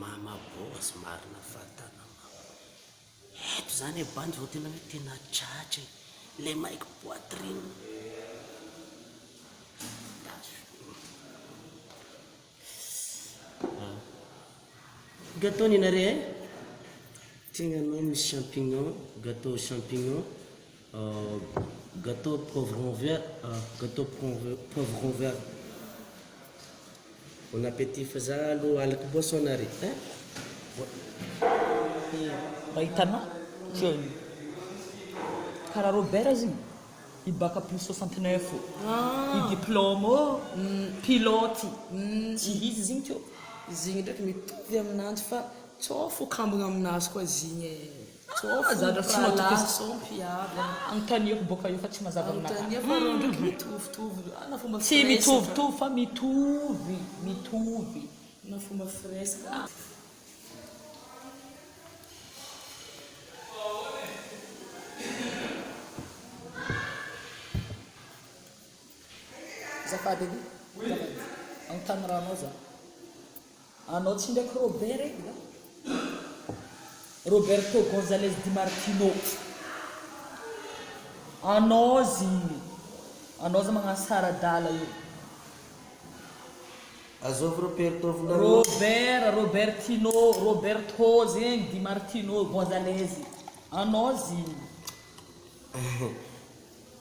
Mama boss marina fatana mama eto zany e bandy zao tena hoe tena tratra e le maiky poitrine gateau nenareo e tegna anao misy champignon gateau champignon Gâteau poivron vert gâteau poivron vert bon appétit fa za aloha alako boisson nare eh Mba hitanao zao io karaha Robert aza iny i bac plus soixante neuf ô, i diplôme ô, pilote tsy izy izy igny teo. Izy igny ndraiky mitovy aminanjy fa tsôfo kambagna aminazy koa izy igny e. Tsôfy ny mpirahalahy. Anontaniako boka io fa tsy mazava aminakahy. Tsy mitovitovy fa mitovy, mitovy. Azafady edy e! Azafady! Anontany raha anao za. Anao tsy ndraiky Robert e nga? Roberto Gonzalez Di Martino Anao zy Anao zy magnano sara adala io. Azovy Roberto volanao. Robert, Robertino, Roberto zegny, Di Martino, Gonzalez Anao zy.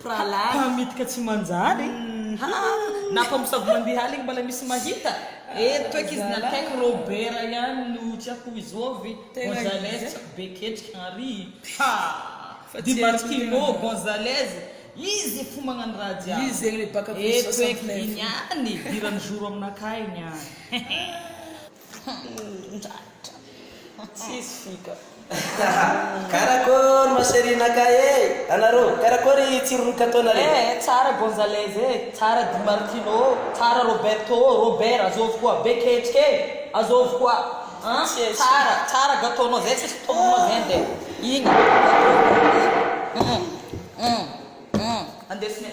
Pralay. Mpamitika tsy manjary e. Haa na fa misabo mandeha aligny mbala misy mahita e. Eto eky izy na akaiky Robert ihany no tsy akoho izovy Gonzalez tsy akoho be ketriky Henri haa di Martino Gonzalez izy fo magnano raha jiaby eto eky igny any idirany zoro aminakahy igny any. Raitra tsisy fika. Karakory ma cherie naka e! Anareo, karakory tsiron'ny katonareo? Eh eh tsara Gonzalez e, tsara Di Martino ô, tsara Roberto ô, Robert azôvy koa, be ketrika e, azôvy koa an, tsara, tsara gatônao zay tsisy mpitombonao zay nde igny gatô, hum hum hum hum, andesinay.